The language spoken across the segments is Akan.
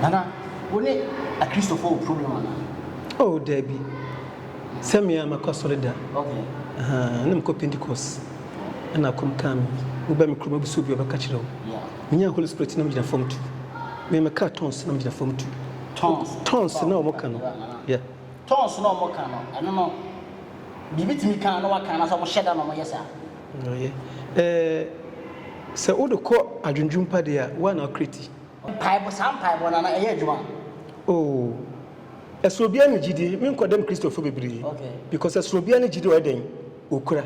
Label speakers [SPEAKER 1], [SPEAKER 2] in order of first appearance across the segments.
[SPEAKER 1] Nana, wo ne Akristofo wɔ problem anaa? Oh,
[SPEAKER 2] dabi. Sɛ me a, makɔ asɔre da. Okay.
[SPEAKER 1] Aha, na mekɔ
[SPEAKER 2] Pentecost. Ɛna akɔm kaa me. Woba me kurom abisa obi a, ɔbɛka kyerɛ wo. Yeah. Menyaa Holy
[SPEAKER 1] Spirit na
[SPEAKER 2] megyina fam tu. Me, mekaa tons na megyina fam tu. Tons? Tons na wɔn ka no. Yeah. Tons na wɔn ka no, ɛno
[SPEAKER 1] no, biribi tumi ka na wɔaka anaasɛ wɔhyɛ da na wɔyɛ saa? Ɔyɛ.
[SPEAKER 2] Ɛɛ, sɛ wode kɔ adwendwen pa deɛ a, wo ara na wokra ti. Mpaebɔ, saa mpaebɔ
[SPEAKER 1] no, ana ɛyɛ adwuma? Oo,
[SPEAKER 2] ɛsoro biara ne gyidie. Me nkwadam Kristofo bebree, because ɛsoro
[SPEAKER 1] biara ne gyidie
[SPEAKER 2] a wɔyɛ dɛn? Wɔkura.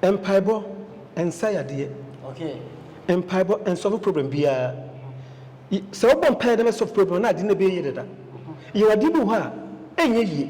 [SPEAKER 2] Mpaebɔ nsa yadeɛ.
[SPEAKER 1] Mpaebɔ
[SPEAKER 2] nsɔlve problem biara. Sɛ wobɔ mpaeɛ na ɛbɛsɔlve problem a, na adeɛ no bɛyɛ yie dada. Yɛwɔ adeɛ bi wɔ hɔ a, ɛnyɛ yie.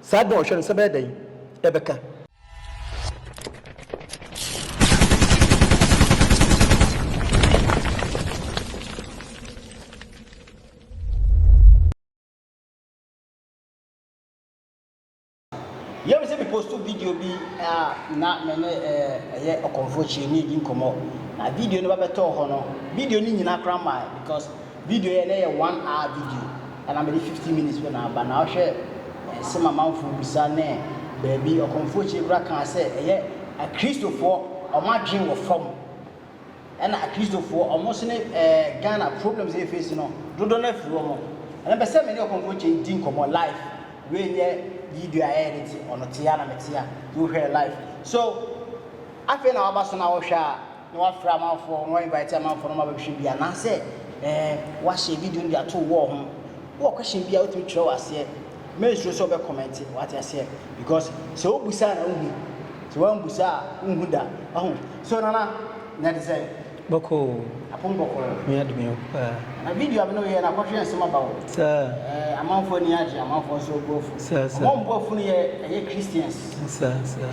[SPEAKER 2] Saa adwene a ɔhwɛ no sɛ ɛbɛyɛ dɛn ɛbɛka.
[SPEAKER 1] Yɛm sɛ me postu video bi a na me ne ɛyɛ ɔkɔmfo kyerɛni di nkɔmmɔ na video no ba bɛtɔɔ hɔ no video no nyina koraa mae because Video yɛ na yɛ one hour video ɛna mede fifteen minutes pɛ na aba na wohwɛ nsɛm amanfoɔ bisa ne baabi ɔkɔmfoɔ akyire koraa kaa sɛ ɛyɛ akristofoɔ ɔmo adwen wɔ fam ɛna akristofoɔ ɔmo nso ne ɛɛ Ghana problems a yɛ face no dodoɔ no afiri ɔmo ɛna mpɛ sɛ me ne ɔkɔmfoɔ akyire di nkɔmɔ live wei nyɛ video a yɛyɛ de te ɔno te a na me te a nti wohwɛ live so afei na waba so na wohwɛ a. na wafrɛ amanfoɔ, na wainvite amanfoɔ na wɔabɛhwɛ bi anaasɛ eh, wahyɛ video no de ato wall ho. Wowɔ question bi a wotumi twerɛ wɔ aseɛ, mensuro sɛ wobɛkɔmɛnte, wate aseɛ, because sɛ wobusa a na wohu, sɛ woambusa a wonhu da, wahu. So Nana, na ɛte sɛn? Bɔkɔɔ o,
[SPEAKER 2] Apom bɔkɔɔ.
[SPEAKER 1] Nyame adom yɛ wo paa.
[SPEAKER 2] Na video a me
[SPEAKER 1] ne wo yɛɛ no akɔhwe nsɛm aba o. Saa. Eh, amanfoɔ
[SPEAKER 2] ani agye,
[SPEAKER 1] amanfoɔ nso bo afu. Saa, saa. Wɔn a wɔn bo afu
[SPEAKER 2] no yɛ
[SPEAKER 1] ɛyɛ Christians. Saa, saa.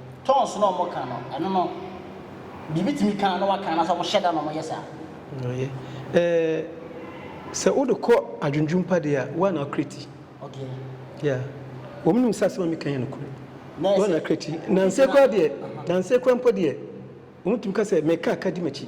[SPEAKER 2] Tongues na ɔmo
[SPEAKER 1] ka no ɛno no deɛ ebetumi ka na waka anaasɛ ɔmo hyɛ da na ɔmo yɛ saa?
[SPEAKER 2] Ɔyɛ. Ɛɛ sɛ wode kɔ adwendwen pa deɛ a, woa na ɔkreti.
[SPEAKER 1] Okay. Yeah.
[SPEAKER 2] Wɔn nim sɛ asɛm a meka yɛ nokorɛ. Nɛɛsɛ. Woa na ɔkreti. Nansa yi koraa deɛ, nansa yi koraa mpo deɛ, wɔn tumi ka sɛ, meka a ka di m'akyi.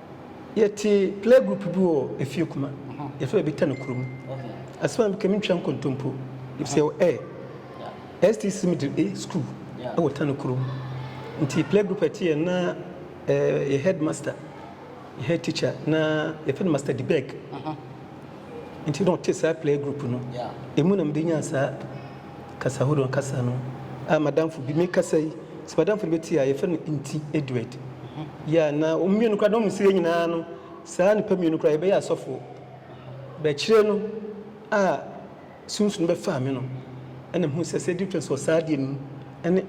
[SPEAKER 2] Yɛtse play group bi wɔ efie kuma, yɛfrɛ baabi Tano kuro mu. Asɛm a
[SPEAKER 1] mekam ntwa
[SPEAKER 2] nkontompo, efisɛ yɛwɔ ɛ, STC Middle A school wɔ Tano kuro mu. Nti play group a ɛte yɛn na ɛ, yɛ headmaster, yɛ head teacher na yɛfrɛ no Master Dibeg. Nti na ɔte saa play group no. Emu na mede nyaa
[SPEAKER 1] saa
[SPEAKER 2] kasa horow kasa no a m'adamfo bi, mekasa yi, sɛ m'adamfo no bɛtie a, yɛfrɛ no Nti Edward. Yeah, na wɔn mmienu koraa, na wɔn sɛ yɛn nyinaa no, saa nnipa mmienu koraa, yɛbɛyɛ asɔfoɔ. Bɛkyerɛ no a. Sunsum bɛfaa me no, ɛna mehuu sɛ sɛ difference wɔ saa adeɛ no mu ɛne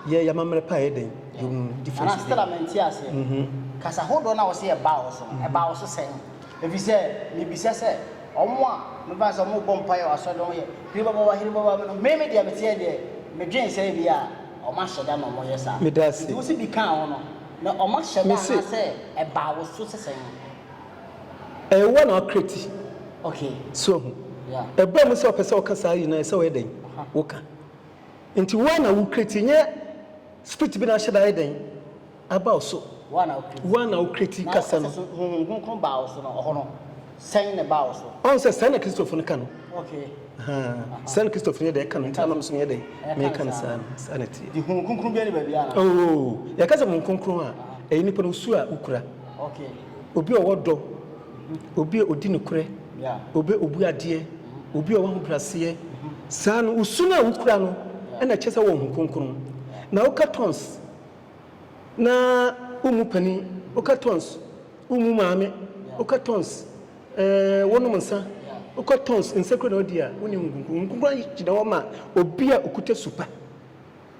[SPEAKER 2] yɛ yamammerɛ paa yɛ dɛn yɛ hu difference. Nana Stella mente aseɛ. Mm
[SPEAKER 1] hmm. Kasa hodoɔ no a wɔse ɛbaa wo so no, ɛbaa wo so sɛn? Ɛfiri sɛ mebisa sɛ wɔn a mefa no sɛ wɔrebɔ mpaeɛ wɔ asɔre no wɔn yɛ hiribababa hiribababa no, me me deɛ meteɛ deɛ medwen sɛ ebia wɔn ahyɛ da na wɔn yɛ saa. Meda ase. Nti wo se bi kaa wo no, na wɔn ahyɛ da anaasɛ ɛbaa wo so sɛ sɛn? Ɛwɔ na ɔkreti. Okay. So ahu.
[SPEAKER 2] Yeah. Ɛba mu
[SPEAKER 1] sɛ ɔpɛ sɛ
[SPEAKER 2] ɔka saa nyinaa sɛ ɔyɛ dɛn? Woka. Nti woa na wokreti nyɛ spirit bi na ahyɛ da ayɛ dɛn? Aba wo so. Woa na wokreti. Woa na wokreti kasa no. Na ɔsɛ so honhom kronkron baa wo so
[SPEAKER 1] no ɔhɔ no sɛn na ɛbaa wo so? Ɔn sɛ sɛn na Kristofo no
[SPEAKER 2] ka no. Okay.
[SPEAKER 1] Sɛn
[SPEAKER 2] Kristofo no yɛ dɛn ka no nti na mom so meyɛ dɛn? Meka no saa no. Saa na ɛteɛ. De honhom kronkron bi ani
[SPEAKER 1] baabi a na. Oo, yɛka sɛ
[SPEAKER 2] honhom kronkron a ɛyɛ nipa no su a wokura. Okay.
[SPEAKER 1] Obi a ɔwɔ dɔ,
[SPEAKER 2] obi a ɔdi nokorɛ, obi a ɔbu adeɛ, obi a ɔwɔ ahobrɛaseɛ, saa no, wo su no a wokura no na ɛkyerɛ sɛ wowɔ Honhom Kronkron. Na woka tɔns na wommu panin, woka tɔns wommu maame, woka tɔns wonom nsa, woka tɔns nsekuro na wodi a, wonni Honhom Kronkron. Honhom Kronkron gyina hɔ ma obi a ɔkuta su pa.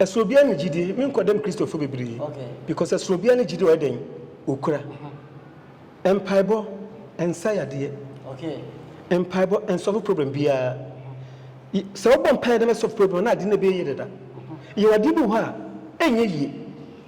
[SPEAKER 2] Ɛsoro biara ne gyidi me nkɔ dɛm Kristofo bebree because ɛsoro biara ne gyidi ɔyɛ dɛn okura mpaebɔ ɛnsa yadeɛ mpaebɔ ɛnsɔfo problem biara sɛ wobɔ mpaeɛ na ɛsɔfo problem na ade no ɛbɛyɛ yie dada yɛwɔ adeɛ bi wɔ hɔ a ɛnyɛ yie.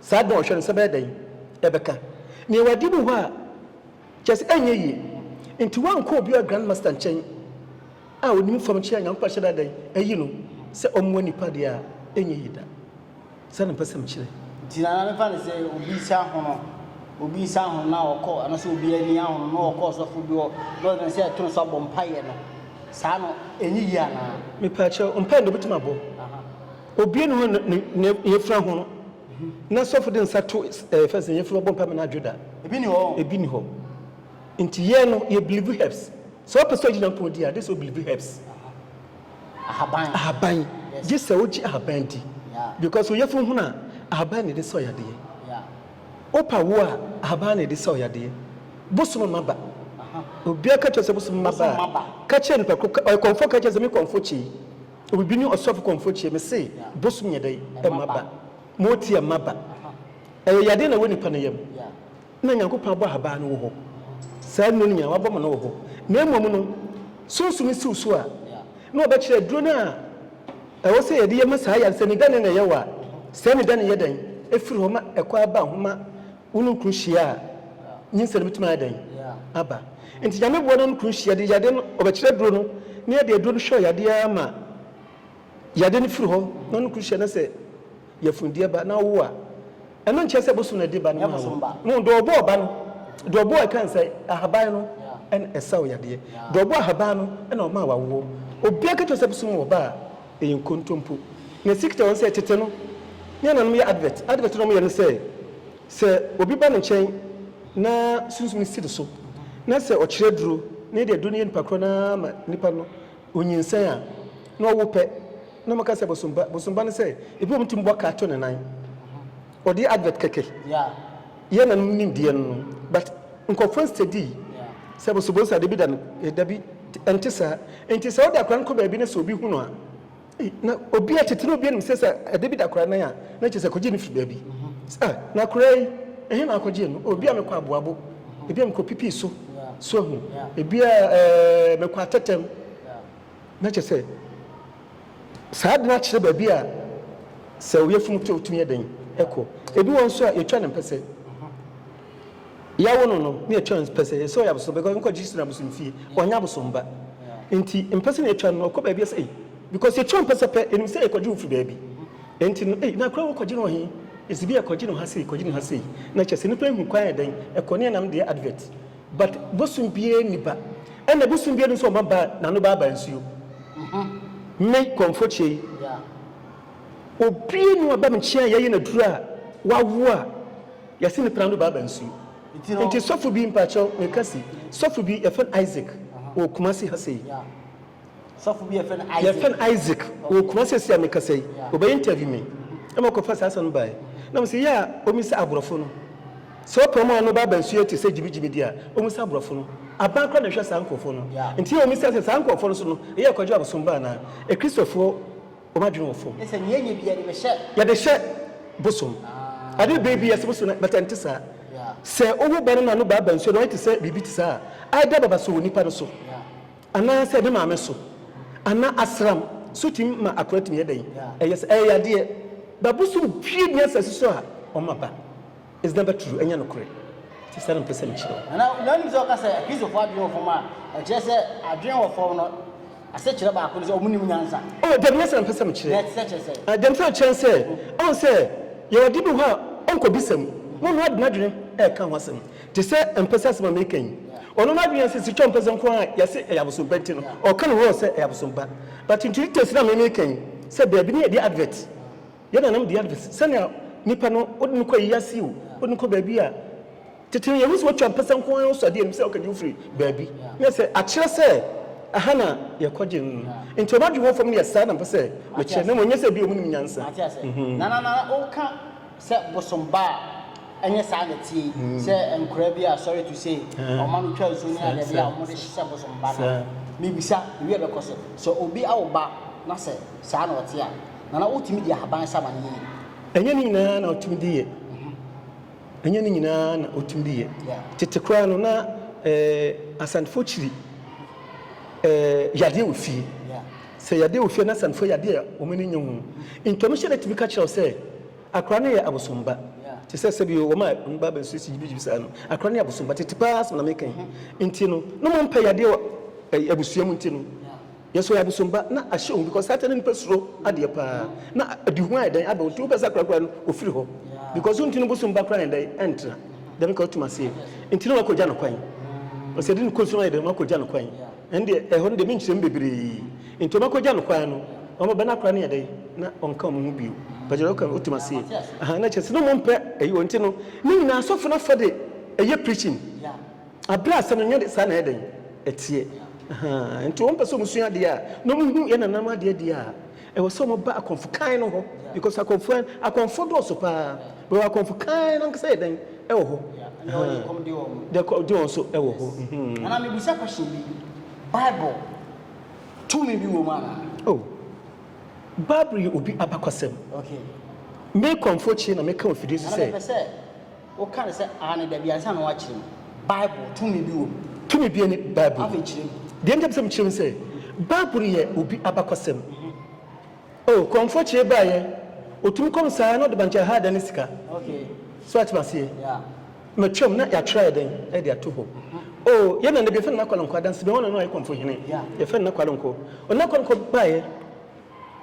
[SPEAKER 2] Saa dɔn hwɛ no sɛ bɛyɛ dɛn ɛbɛka nea wadi no hɔ a kyerɛ sɛ ɛnyɛ yie nti wankɔ obiara grand master nkyɛn a onim fam kyerɛ a Nyankopɔn ahyɛ da dɛn ayi no sɛ ɔmmoa nnipa deɛ a ɛnyɛ yie da saa na mpɛsɛm kyerɛ. Nti na na mefa no
[SPEAKER 1] sɛ obi nsa ahono obi nsa ahono na ɔkɔ anasɛ obi ani ahono na ɔkɔ ɔsɔfo bi hɔ na ɔyɛ sɛ ɛto nso abɔ mpaeɛ no saa no ɛnyɛ yie anaa? Mepaakyɛw mpaeɛ
[SPEAKER 2] deɛ obɛtumi abɔ. Obue ne ho na ne yafura ho no, na sɔfo de nsa to ɛɛ fɛn sɛ yafura bɔ mpae ma no adwo da. Ebi ni hɔ. Ebi ni hɔ. Nti yɛn no yɛ bilivu herbs. Sɛ ɔpɛ sɛ ɔgye Nyankopɔn di a, gye sɛ ɔbilivu herbs. Ahaban. Ahaban. Yes. Gye sɛ ɔgye ahaban di. Yeah. Because ɔyafuru ho no a, ahaban na ɛde sɛ ɔyadeɛ. Yeah. Ɔpa wo a, ahaban na ɛde sɛ ɔyadeɛ. Bosom ma ba. Obiara ka kyerɛ sɛ bosom ma ba a, ka kyerɛ nipa koro, ɔyɛ kɔmfo ka kyerɛ sɛ me kɔmfo kyei. Obi ne ɔsɔfo kɔmfo kyeɛ me se bosom yɛ dɛn? Ɛmma ba. Ma ɔti ɛmma ba. Ɛyɛ yadeɛ na ɛwɔ nipa no yam na Nyankopɔn abɔ ahabaa no wɔ hɔ. Saa nnuro no nyinaa wabɔ ma no wɔ hɔ. Na mmom no sunsum no si wo so a na ɔbɛkyerɛ aduro no a ɛwɔ sɛ yɛde yɛ ma saa yare no sɛ ne dɛn na ɛyɛ wo a sɛ ne dɛn na ɛyɛ dɛn firi hɔ ma ɛkɔ ara ba homa Wo ne wo kunu hyia a, nyinsɛn no betumi ayɛ dɛn aba? Enti Nyame boa na wo ne kunu hyia de yadeɛ no, ɔbɛkyerɛ aduro no na yɛde aduro no hwɛ ɔyadeɛ ara ma yadeɛ no firi hɔ na wo ne kunu hyia na sɛ yafundeɛ ba na wowo a, ɛno nkyerɛ sɛ bosom na ɛde ba no maa wo. Wohu, deɛ ɔbɔɔ ba no, deɛ ɔbɔɔ ɛkan sɛ ahaban no na ɛsa wo yadeɛ, deɛ ɔbɔɔ ahaban no na ɔmaa wawoɔ. Obiara ka kyerɛ wo sɛ bosom wɔ ba a, Ɛyɛ nkontompo. Na ɛsi kyekyɛ wɔn sɛ tete no ne ananom yɛ advert. Advert no a wɔyɛ ne sɛ, sɛ obi ba ne nkyɛn na sunsum no si ne so na sɛ ɔkyerɛ aduro na ɛde aduro no yɛ nipa korɔ no ara ma nipa no ɔnyinsɛn a, na ɔwo pɛ na wɔka sɛ bosomba. Bosomba ne sɛ, ebi wɔ mu tumi bɔ kaa to ne nan. Ɔde yɛ advert kɛkɛ. Yɛn nanom nim deɛ no no but nkorɔfoɔ nstadi sɛ boso boso adeɛ bi da no eh dabi ɛnte saa nti sɛ wode akora no kɔ baabi na sɛ obi hu no a eh na obia tete no obia nim sɛ sɛ adeɛ bi da akora nan a na kyerɛ sɛ ɛkɔgyee no firi baabi sɛ ah na akora yi ɛhe na akɔgyee no oh ebia mekɔ aboabo ebia mekɔ pipii so so ahu ebia eh mekɔ atɛtɛm na kyerɛ sɛ Saa de no akyerɛ baabi a sɛ ɔyafunu te a ɔtumi yɛ dɛn kɔ. Ebi wɔ nso a yɛtwa no mpɛsɛ. Yɛawo no no na yɛtwa no mpɛsɛ, yɛsɛ ɔyɛ abosom because nkɔ Jesus na abosom fie, ɔnyɛ abosom ba. Enti mpɛsɛ na yɛtwa no no, ɔkɔ baabi a sɛ ei, because yɛtwa mpɛsɛ pɛ, ɛnim sɛ yɛkɔgye wo firi baabi. Enti no ei, na koraa wokɔgye no wɔ he? Ɛsɛ bi a kɔgye no ha sei, kɔgye no ha sei. Na kyerɛ sɛ nnipa ahu kwan a yɛ dɛn kɔ, ne yɛnam deɛ advert. But bosom biaa nni ba. Ɛna bosom biaa nni sɛ ɔma ba nano ba aba nsuo. Me kɔmfokyɛ yi obiaa nni hɔ a ba me nkyɛn a yɛyɛ no aduro a wawo a yɛse no prano ba aba nsuo. Nti sɔfo bi mpakyɛw meka se sɔfo bi yɛfrɛ no Isaac wɔ Kumasi ha sei. Sɔfo
[SPEAKER 1] bi a yɛfrɛ no Isaac. Yɛfrɛ no Isaac, ɔwɔ
[SPEAKER 2] Kumasi seesei a mekasa yi. Ɔbɛyɛ interview me na makɔfa saa asɛm no baeɛ. Na mese yɛ a ɔmmisa aborɔfo no. Sɛ ɔpɛ wɔn a wɔn ba aba nsuo te sɛ gyimigyimi deɛ a, ɔmmisa aborɔfo no. Aban koraa na ɛhwɛ saa nkurɔfoɔ no. Nti yɛ a ɔmmisa sɛ saa nkurɔfoɔ no nso no, ɛyɛ Kwagye abosom ba anaa? Akristofoɔ wɔn adwene wɔ fam. Sɛ nea yɛnyɛ biara
[SPEAKER 1] de bɛhyɛ. Yɛde
[SPEAKER 2] hyɛ bosom. Adeɛ bɛyɛ bi yɛ sɛ bosom no but ɛnte saa. Sɛ wowo ba no na no ba aba nsuo na wayɛ te sɛ biribi te saa a, either baba so wɔ nipa no so. Anaasɛ ne maame so anaa asram so tumi ma akoa tumi yɛ dɛn? Ɛyɛ sɛ ɛyɛ yadeɛ. Ba bosom pue nni asase so a ɔma ba. Is never true, ɛnyɛ nokorɛ. Nti saa na mepɛ sɛ mekyerɛ wo. Na wonim sɛ wɔka sɛ
[SPEAKER 1] Kristofo adwene wɔ fam a, ɛkyerɛ sɛ adwene wɔ fam no asekyerɛ baako ne sɛ wɔnnim nyansa. Oh, dabi, ɛnyɛ saa na mepɛ sɛ
[SPEAKER 2] mekyerɛ. Na ɛkyerɛ sɛ? Deɛ mepɛ sɛ mekyerɛ ne sɛ, ɔn, sɛ yɛwɔ ade bi hɔ a ɔnkɔbisa mu, na ɔno ara de n'adwene reka ho asɛm. Te sɛ mpɛsɛ asɛm a mereka yi, ɔno n'adwene yɛ sɛ sika a ɔmpɛ sɛ nko ara yɛse ɛyɛ abosompa nti no ɔka ne ho ɔ sɛ ɛyɛ abosompa. But nti details no a me meka yi sɛ baabi no yɛde advert, yɛn nananom de advert sɛnea nipa no wode no kɔ ayi ase o, wode no kɔ baabi a tete no yɛhu sɛ watwa mpɛsɛ nko ara ɔsɔ adeɛ anim sɛ ɔkagye wo firi baabi na sɛ akyerɛ sɛ ɛha na yɛkɔgye no no. Nti ɔno adwene wɔ fam no yɛ saa na mpɛ sɛ mekyerɛ na mmom ɛnyɛ sɛ ebia wɔn nim nyansa. Mhm.
[SPEAKER 1] Sɛ bosom ba a, ɛnyɛ saa na ɛteɛ yi, sɛ nkwadaa bi a, sorry to say, wɔma no twa nsuo ne adeade a wɔde hyɛ bosom ba no a, mebisa, biribi a ɛbɛkɔ so? Sɛ obi awo ba na sɛ saa na ɔte a, Nana, wotumi di ahaban sa ma no yiye? Ɛnyɛ ne nyinaa na ɔtumi
[SPEAKER 2] di yɛ. Ɛnyɛ ne nyinaa na ɔtumi di yɛ. Tete koraa no, na Asantefoɔ kyiri yadeɛ wɔ fie. Sɛ yadeɛ a ɔfie anaa asiane fo yɛ adeɛ a wɔn ani nnye ho ntɔno hyɛ da tumi ka kyerɛ wo sɛ akwadaa no yɛ abosom ba. Te sɛ sɛbi wɔn a wɔn ba bɛnso si gyibigyibi saa no, akwadaa no yɛ abosom ba tete paa asɛm na meka yi nti no na wɔn mpɛ yadeɛ wɔ ɛyi abusua mu nti no yɛsɛ ɔyɛ abosom ba na ahyɛ wɔn because saa kyɛ no nipa suro adeɛ paa na adi ho ayɛ dɛn abɛn nti wopɛ sɛ akwadaa kura no ofiri hɔ because nti no bosom ba kura yɛn dɛn ɛntena dɛm ka wotum aseɛ nti no wakɔgya no kwan ɔsɛ de no kɔ nsuo ayɛ dɛn wakɔgya no kwan Ɛndeɛ, ɛhɔ no deɛ me nkyerɛ mu bebree, enti wɔbɛkɔgya no kwan no, na wɔbɛbɛn akora no yɛ dɛn, na wɔnka wɔn ho bio. Mpakyɛw, deɛ woka no, wotem aseɛ? Ahaa, na kyerɛ sɛ, na wɔmpɛ ɛyi wɔ, nti no, ne nyinaa asɔfo no afa de ɛyɛ preaching, aberɛ a asɛm no nyɛ de saa na ɛyɛ dɛn, ɛteɛ. Ahaa, nti wɔmpɛ sɛ wɔsua adeɛ a, na wɔhu yɛn nananom adeɛ deɛ a, Ɛwɔ sɛ ɔmo ba akɔmfo kann no hɔ because akɔmfo a akɔmfo dɔɔso paa but wɔ akɔmfo kann no ankasa yɛ dɛn ɛwɔ hɔ ɛhɛn deɛ ɛkɔm de wɔn deɛ ɛkɔm de wɔn so ɛwɔ hɔ mm. Nana me bisa
[SPEAKER 1] question bi bible tumi bi wɔ mu anaa. Oh
[SPEAKER 2] bible yɛ obi abakɔsɛm okay. Me kɔmfo kye na me ka wɔ fidie so sɛ. Nana me pɛ sɛ. Woka no sɛ
[SPEAKER 1] aane dabi ansa na woakyerɛ mu. Bible, tumi bi wom? Tumi biara nni Bible mu. Afei
[SPEAKER 2] kyerɛ mu. Deɛ nti a
[SPEAKER 1] mepɛ sɛ mekyerɛ mu ne
[SPEAKER 2] sɛ, Bible yɛ obi abakɔsɛm. Oh, Kɔmfoɔ Kyeree baeɛ, ɔtumi kɔm saa na ɔde bankye haa dan ne sika. Okay. So woate m'aseɛ? Yeah. Matwam na yɛatwerɛ ayɛ dɛn? Ɛde ato hɔ. Oh, yɛn nana bi, yɛfrɛ no Nana Kwalonkwo, Adansebɛn hɔ na na ɔyɛ Kɔmfoɔ Hene. Yeah. Yɛfrɛ no Nana Kwalonkwo. Ɔno Nana Kwalonkwo baeɛ.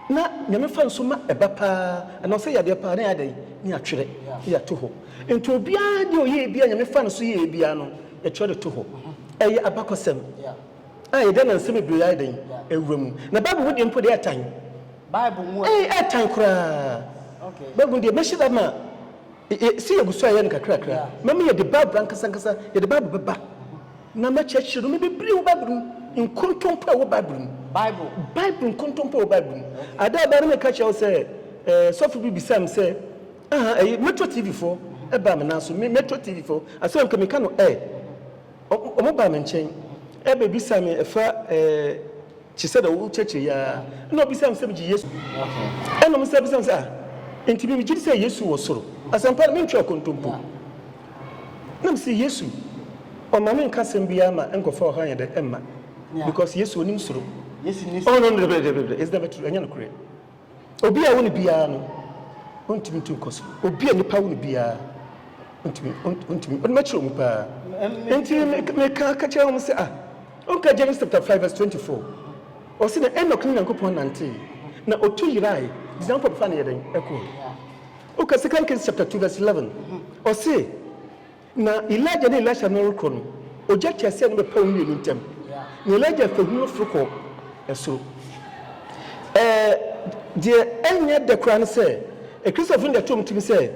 [SPEAKER 2] Na Nyame fa nso ma ɛba paa anaa ɔsɛ yadeɛ paa na yɛadɛn na yɛatwerɛ na yɛato hɔ nti obiara deɛ ɔyɛɛ biara Nyame fa no so yɛɛ biara no yɛtwerɛ de to hɔ ɛyɛ abakɔsɛm a yɛde anansɛm bebree ayɛ dɛn awura mu na Bible mu deɛ mpo deɛ ɛtan
[SPEAKER 1] ɛɛtan koraa
[SPEAKER 2] Bible mu deɛ mɛhyɛ da ma Sɛ yɛgu so ayɛ no kakrakra a, mɛma yɛde Bible ankasa ankasa, yɛde Bible bɛba, na mɛkyerɛkyerɛ nneɛma bebree wɔ Bible mu, nkontompo a ɛwɔ Bible mu. Bible. Bible nkontompo a ɛwɔ Bible mu. Ada a ɛbaa no meka kyerɛ wo sɛ ɛɛ sɔfo bi bisaa me sɛ aha ɛyi Metro TV fo ɛbaa me nan so me Metro TV fo asɛm nka meka no ɛ wɔn baa me nkyɛn ɛbɛbisa me ɛfa ɛɛ Te sɛ deɛ wokyerɛkyerɛ yi ara, ɛnna ɔbisaa me sɛ megye Yesu di. Ɛnna mesan bisaa no sɛ, Ah, enti me megye di sɛ Yesu wɔ soro? Asɛmpa no, mentwaa kontompo. Na mese, Yesu, ɔma me nka asɛm biara ma nkurɔfoɔ a wɔha yɛn dɛ mma, because Yesu, ɔnim soro. Oh, no, no,
[SPEAKER 1] daabi, daabi, daabi, daabi, ɛsɛ dɛ
[SPEAKER 2] mɛto so, ɛnyɛ nokorɛ. Obi a wo ne biara no, ontumi ntu nkɔ so. Obi a nipa wo ne biara, ontumi, ontumi, ɔno makyerɛ wɔn paa. Nti meka ka kyerɛ wɔn sɛ, ah, ɔnka Genesis chapter 5 verse 24. Ɔse na Enoch ne Nyankopɔn nantee, na ɔtu yerae, Nyankopɔn bɛfa no yɛ dɛn? Ɛkɔe. Woka Second Kings chapter 2 verse 11, ɔse, Na Elijah ne Elisha no rekɔ no, ogya teaseɛnam bɛpaa wɔn mmienu ntam, na Elijah fahu no foro kɔɔ soro. Ɛɛ, deɛ ɛnyɛ dɛ koraa ne sɛ, Kristofo no de ato wɔn tirim sɛ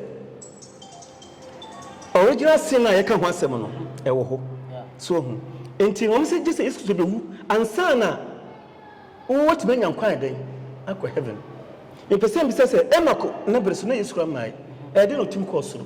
[SPEAKER 2] original sin a yɛka ho asɛm no, ɛwɔ hɔ. So wohu? Enti wɔn sɛ gye sɛ Yesu Kristo bɛwu ansa na wɔatumi anya nkwa a ɛdɛn akɔ heaven. Mepɛ sɛ mibisa sɛ, Enok ne bere so na Yesu koraa mmae, ɛyɛ dɛn na otumi kɔɔ soro?